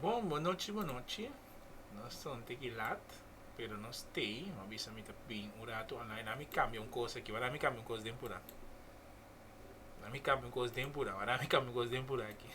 Bon bonochi bonochi nos ta un tiki lat pero nos stay no bisa mi ta bin un ratu online ami cambia un cos aki wara ami cambia un cos den pura ami cambia un cos den pura wara ami cambia un cos den pura aki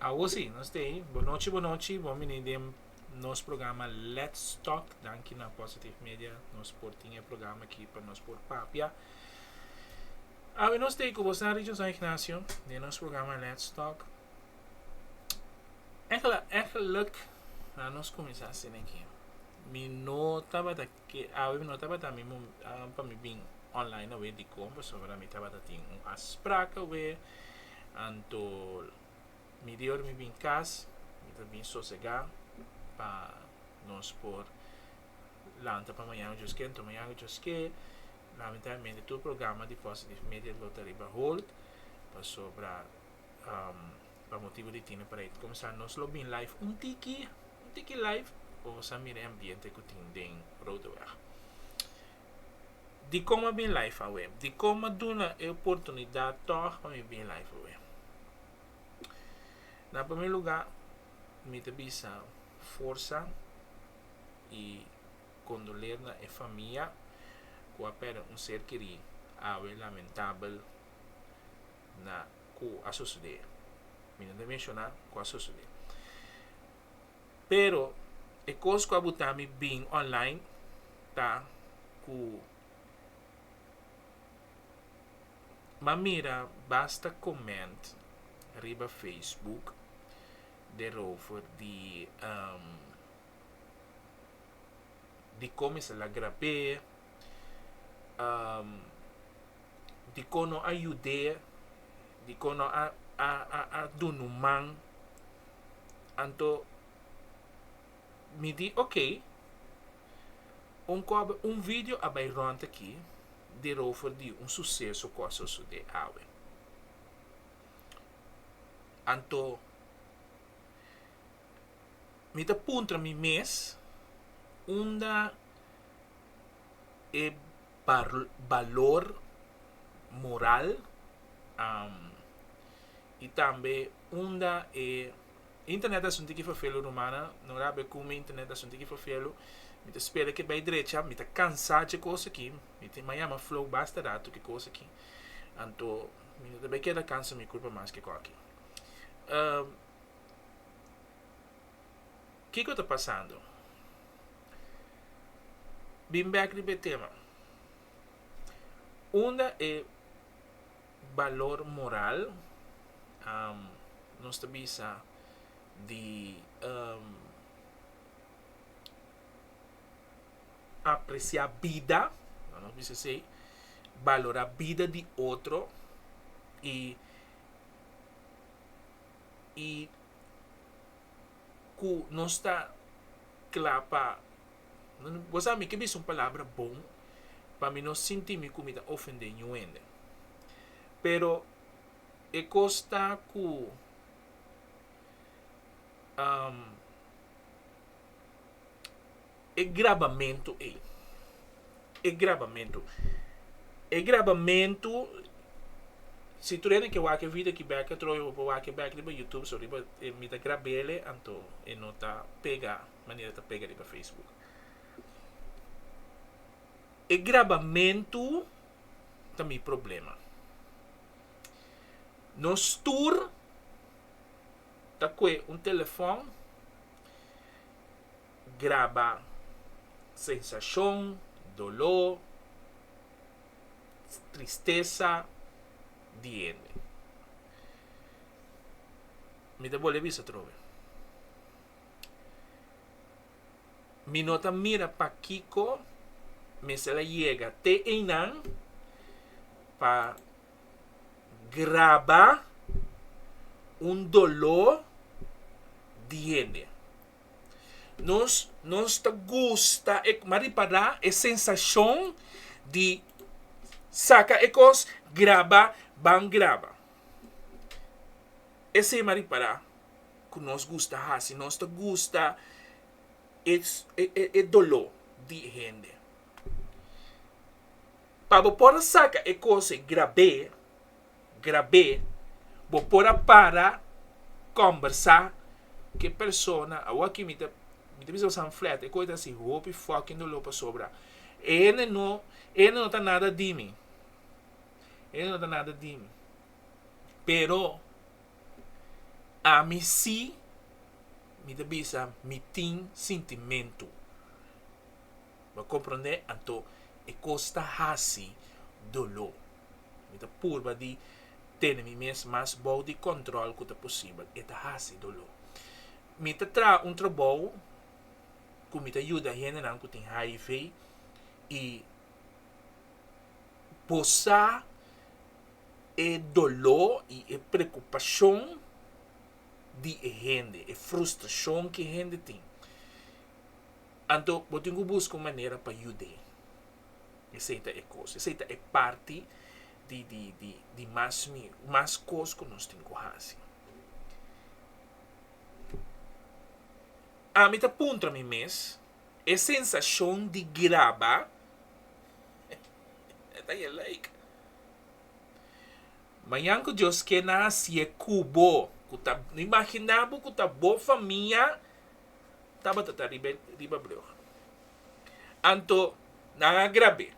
Awo si, nos ta ei. Bo nochi, bo nochi. Bon bini den nos programa Let's Talk. Danki na Positive Media nos por tin e programa aki pa nos por papia. Awe nos ta ei ku bo sa Richard San Ignacio den nos programa Let's Talk. Eglak eglak a nos kuminsá scena aki. Mi no tabata Ke awe mi no tabata mi mo pa mi bin online awe dikon pasobra mi tabata tin un afspraak awe anto midior mi bin kas mi ta bin sosega pa nos por lanta pa mañana jos ke anto mañana jos ke lamentablemente tur programa di kos di media lo ta riba hold pasobra. pa motibu di tine para e comensá nos lo bin live un tiki, un tiki live pa boso a mira e ambiente ku tin den Roodeweg. Dikon a bin live awe? Dikon a duna e oportunidat tòg pa mi bin live awe? Na promé lugá mi ta bisa forsa i kondoler na e famia ku a pèrdè un ser kerí awe lamentabel. na cu a sucede. Mi no ta menciona cu a sucede. Pero e cos cu a buta mi bin online ta cu m'a mira basta comment riba Facebook derover di. dikon mi sa lagra p'e, dikon no a yud'é, dikon no a a a duna un man. Anto mi di okay, un kòbe un vidio a bai rònt aki derover di un suseso ku a sosodé awe. Anto. mi ta puntra mi mes unda e balor moral i tambe unda e internet asunti ki fafelu rumana no rabia ku mi internet asunti ki fafelu mi ta spera ku e bai drecha mi ta kansa dje kos aki mi tin maya mi a flow basta ratu ki kos aki anto mi no ta bai keda kansa mi kurpa mas ke koki. Kiko ta pasando? Bin bek riba e tema. Unda e balor moral nos ta bisa di apresiá bida, laga nos bisa asei, balorá bida di otro i. i ku nos ta kla pa bo sa mi ke bisa un palabra bon pa mi no sinti mi ku mi ta ofendé niun hende pero e kos ta ku E grabamentu ei. E grabamentu. E grabamentu, si tur hende ke wak e video ki bèk atrobe, bo por wak e bèk riba YouTube so riba e mi ta grab'ele, anto e no ta pega manera ta pega riba Facebook. E grabamentu ta mi problema. Nos tur ta kohe un telefòn. graba sensashon, doló, tristesa di hende. Mi ta bole bisa atrobe, mi no ta mira pakiko mester a yega te einan pa graba un doló di hende. Nos nos ta gusta e ma ripadá e sensashon di saka e kos graba ban graba ese ma ripadá ku nos gusta hasi nos ta gusta e e doló di e hende pa bo por a saka e kos grab'é. grab'é, bo por a para kòmbersá ku e persona, awòk'i mi ta mi ta bisa bo san flèt, e kos ta hasi hopi fòking doló pasobra e hende no e hende no ta nada di mi, e hende no ta nada di mi, pero ami si mi ta bisa mi tin sintimentu. Bo comprende? Anto e cos ta haci dolo. Mi ta purba di tene mi mes mas bou di control cu ta posibel. E ta haci dolo. Mi ta traha un trabou cu mi ta yuda hendenan cu tin hiv y bosa e dolo y e preocupacion di e hende, e frustracion ki e hende tin. Anto bo tin ku buska un manera pa yud'é. Esei ta e kos, esei ta e parti di di di di mas mi mas kos ku nos tin ku hasi. Ami ta puntra mi mes, e sensashon di graba e ta e like. Mañan ku Dios kena hasié ku bo, ku ta no imaginá bo ku ta bo famia. tabata ta riba riba brug. Anto nan a grab'é.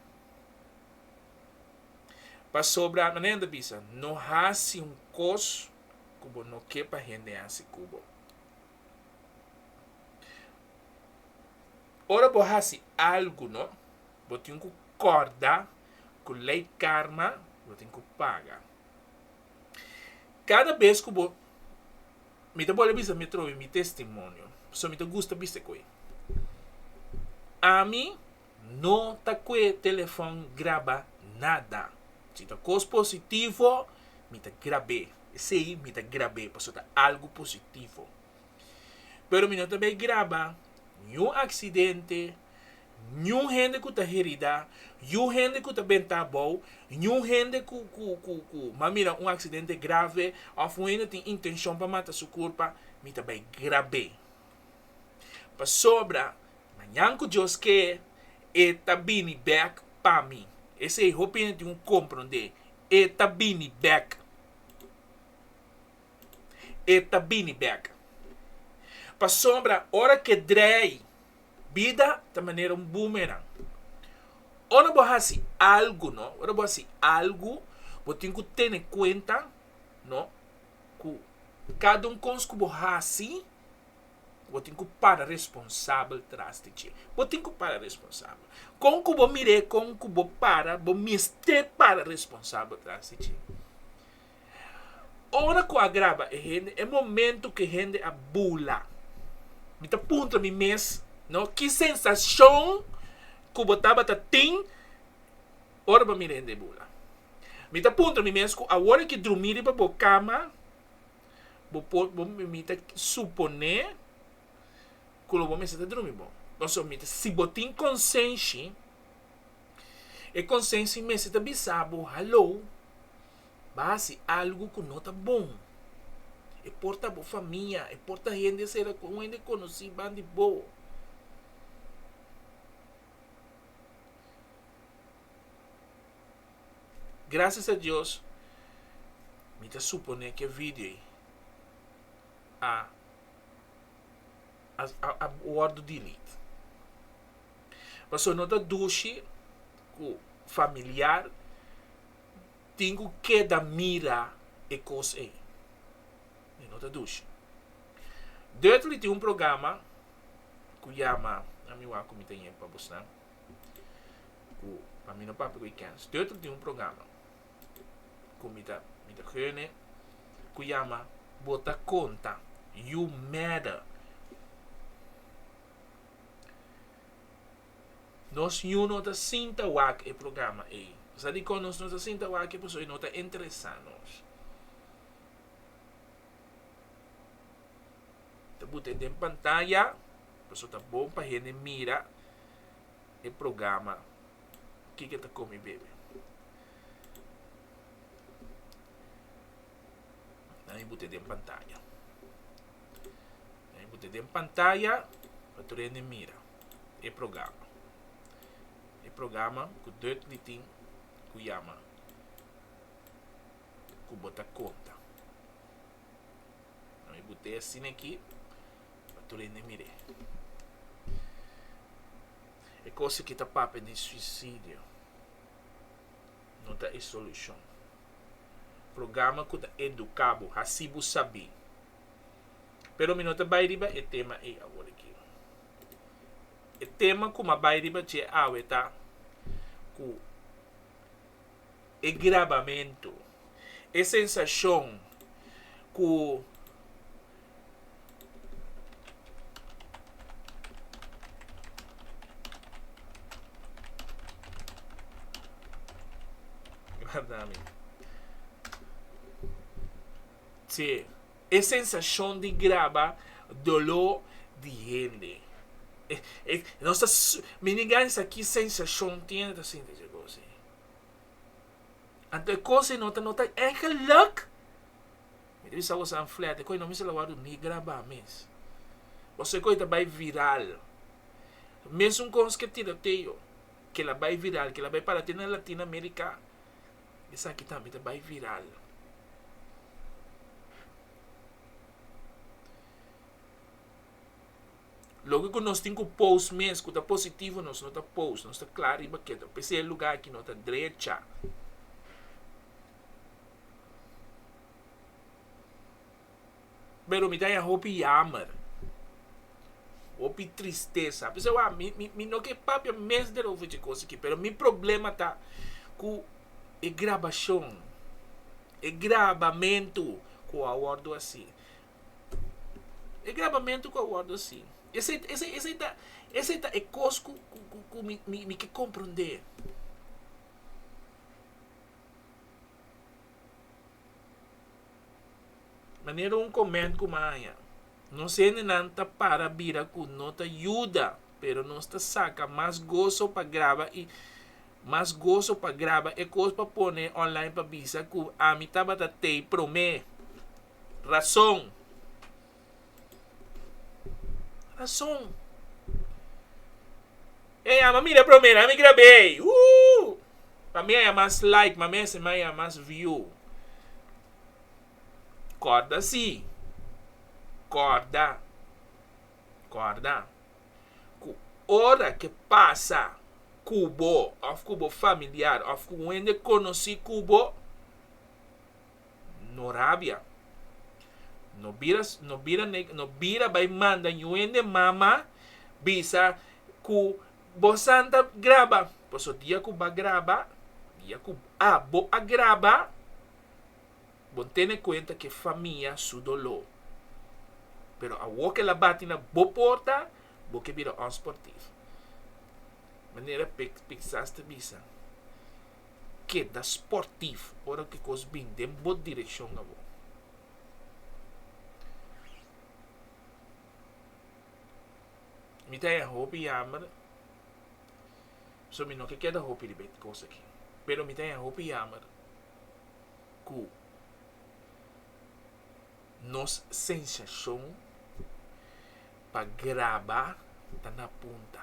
Pasobra manera ta bisa no hasi un kos ku bo no ke pa hende hasi ku bo. Ora bo hasi algu no, bo tin ku kòrda ku lei karma lo tin ku paga. Kada bes ku bo Mi ta bole bisa mi trobe mi testimonio, so mi ta gusta bisa ku e. Ami no ta kue telefon graba nada. Si ta kos positivo, mi ta grab'é. Esei mi ta grab'é, pasobra ta algu positivo. Pero mi no ta bay graba niun accidente, niun hende cu ta herida, niun hende cu ta benta abou, niun hende cu cu m'a mira un accidente grave of un hende tin intencion pa mata su curpa, mi ta bay grab'é. Pasobra mañan cu Dios kee, e ta bini bek pa mi. Esey hopi hende tin cu comprende, e ta bini bek. e ta bini bek. Pasobra ora ke drei, bida ta manera un boomerang. Ora bo hasi algu, no, ora bo hasi algu, bo tin ku tene kuenta, no, ku kada un kos ku bo hasi, bo tin ku para responsabel tras di dje. Bo tin ku para responsabel. Kon ku bo mira e kon ku bo para, bo mester para responsabel tras di dje. Ora ku a graba e hende, e momentu ku e hende a bula, mi ta puntra mi mes, no, ki sensashon ku bo tabata tin ora bo a mira e hende bula? Mi ta puntra mi mes ku awor a ke drumi riba bo kama, bo por, bo, mi ta suponé ku lo bo mester ta drumi bon. Pasobra mi ta, si bo tin konsenshi, e konsenshi mester ta bisa bo haló. Ba hasi algu ku no ta bon. E por ta bo famia, e por ta hende sera, un hende konosí ban di bo. Grasias a Dios mi ta suponé ku e vidio ei a a wòrdu delete. Pasobra no ta dushi ku familiar tin ku keda mira e kos ei. Mi no ta dushi. Dödly tin un programa ku yama Na mi wak ku mi ta yeg pa busnan, ku pa mi no papia ku e kèns. Dödly tin un programa ku mi ta mi ta hörne ku yama Bo ta konta, You Matter. Nos yu no ta sinta wak e programa ei. Sa dikon nos no ta sinta wakio? Pasobra e no ta interesá nos. Ta buta e den pantaya pasobra ta bon pa hende mira e programa Kiko ta kome bebe. Nan mi buta den pantaya. Nan mi buta den pantaya pa tur hende mira. e programa. E programa ku Dutch di tin ku yama ku bo ta konta. Ami bo te a sina aki pa tur hende mir'é. E kos aki ta papia di suisidio. No ta e solushon. Programa ku ta eduká bo, hasi bo sabí. Pero mi no ta bai riba e tema ei awor'akí. E tema ku m'a bai riba dje awe ta ku e grabamentu, e sensashon ku dje. E sensashon di graba doló di hende. E, e, nos ta su, mi ni gansa ki sensashon tiene ta sinti dje gosi. Anto e kos ei no ta, no ta e geluk. Mi ta bisa bo san flèt, e kos ei no mester lo wòrdu ni grabá mes. Pasobra e kos ei ta bai viral. Mesun kos ke tiroteyo, kila bai viral, kila bai para te na Latina Amerika. esaki tambe ta bai viral. Loke ku nos tin ku post mes ku ta positivo nos no ta post nos ta kla riba keto p'esei e luga aki no ta drecha. Pero mi ta ya hopi yamer, hopi tristesa, p'esei wak mi, mi, mi no ke papia mes der over dje kos aki, pero mi problema ta ku e grabashon, e grabamentu ku a wòrdu hasi, e grabamentu ku a wòrdu hasi, esei, esei, esei ta, esei ta e kos ku, ku, ku mi, mi ke komprondé. Manera un comment cu ma haya. Nos hendenan ta para bira cu no ta yuda, pero nos ta saca mas gozo pa graba y mas gozo pa graba e cos pa pone online pa bisa cu ami tabata tey prome. Razon! Rason. E yama mira promera mi grabei. Ooh! Pa mi a ya mas like, ma mester mi a ya mas view. Kòrda si. Kòrda. Kòrda. Ku ora ke pasa ku bo òf ku bo familiar òf ku wende konosí ku bo. No rabia. No bira no bira neg no bira bai manda niun hende mama bisa ku bo santa graba. Paso dia ku ba graba, dia ku abo a graba, bon tene kuenta ku e famia su doló. Pero awo ku el a bati na bo porta, bo ke bira òns por ti. Manera Pic Picasa ta bisa. keda sportief ora ki kos bin den bo direkshon abo. Mi ta yega hopi yammer, so mi no ke keda hopi riba e kos aki. Pero mi ta yega hopi yammer ku. Nos sensashon pa graba ta na punta.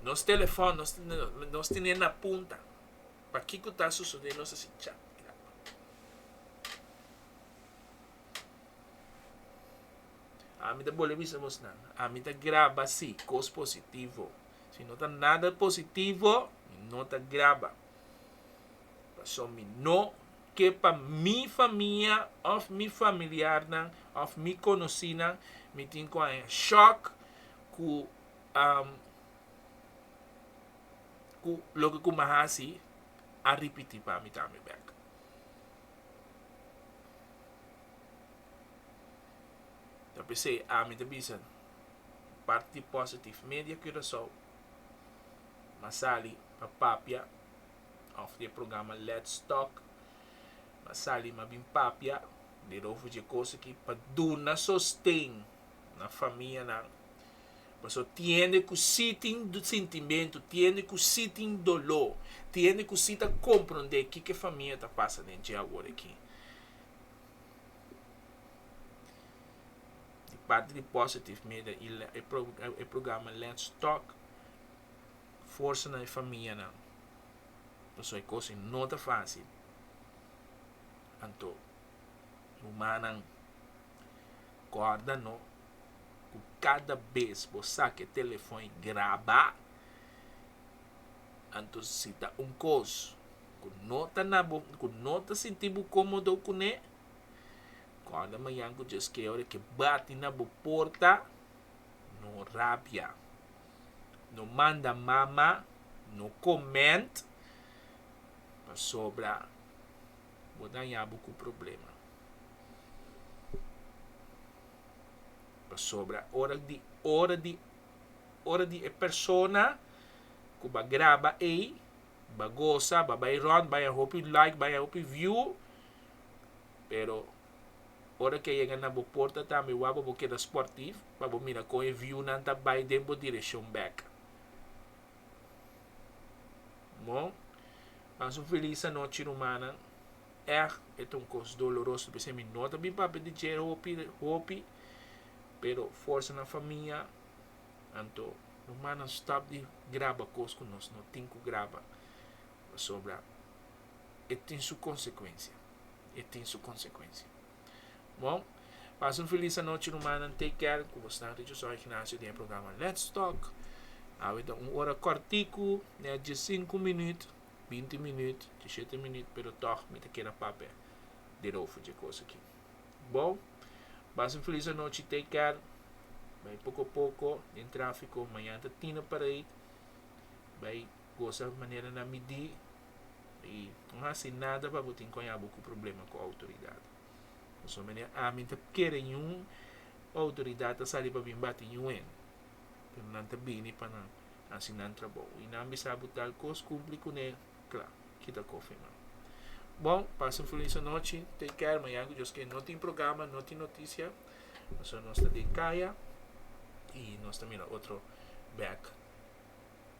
Nos telefòn nos tene na punta. Pa kiko ta sosodé nos a si cha i graba. Ami ta bole bisa bos nan, ami ta graba si, kos positivo. Si no ta nada positivo, mi no ta graba. Pasobra mi no ke pa mi famia of mi familiarnan of mi konosinan mi tin ku haña shòk ku ku loke ku mi hasi a ripití pa mi tambe bèk. Ta p'esei ami ta bisa parti positif media Curaçao a sali a papia òf di e programa Let's Talk. M'a sali m'a bin papia di Rofo dje kos aki pa duna sosten na famianan. Paso tiende ku sí tin sintimentu, tiende ku sí tin doló, tiende ku sí ta komprondé kiko e famia ta pasa den dje awor aki. Di parti di Positive Media i e programa Let's Talk. forsa na e famianan paso e cos no ta facil anto rumannan corda no cu cada bes bo saca e telefon y graba anto si ta un cos cu no ta na bo cu no ta sinti bo comodo cu ne corda mañan cu djeskey ora ke bati na bo porta no rabia. no manda mama no comment pasobra bo daña bo cu problema pasobra ora di ora di ora di e persona cu ba graba ei ba goza ba bay rond bay a hopi like bay a hopi view pero Ora ke yega na bo porta tambe wak pa bo keda sportif pa bo mira kon e viunan ta bai den bo direshon bek. Bo pas un felis anochi rumannan. Echt e ta un kos doloroso pa esei mi no ta bin papia di dje hopi hopi pero forsa na famia anto rumannan stop di graba kos ku nos no tin ku graba pasobra e tin su konsekuensia, e tin su konsekuensia. Bon, pasa un filis anochi rumannan, take care ku bo snanchi cu Soy Ignacio den e programa Let's Talk. Awe ta un ora kòrtiku, nè diesinku minüt, binti minüt, dieshete minüt, pero tòg mi ta keda papia den over dje kos aki. Bon, pasa un filis anochi, take care, bai poko poko den trafiko, mañana ta tina parei, bai. gosa manera na midí i no hasi nada pa bo tin ku haña bo ku problema ku outoridat. Pasobra manera ami ta kere yun outoridat ta sali pa bin bati yu'en pero nan ta bini pa nan hasi nan trabou i nan bisa bo tal kos kumpli kuné kla kita kofe nan. Bon pasa un felis anochi take care mañan ku Dios ken no tin programa no tin notisia pasobra nos ta den kaya i nos ta mira otro bek.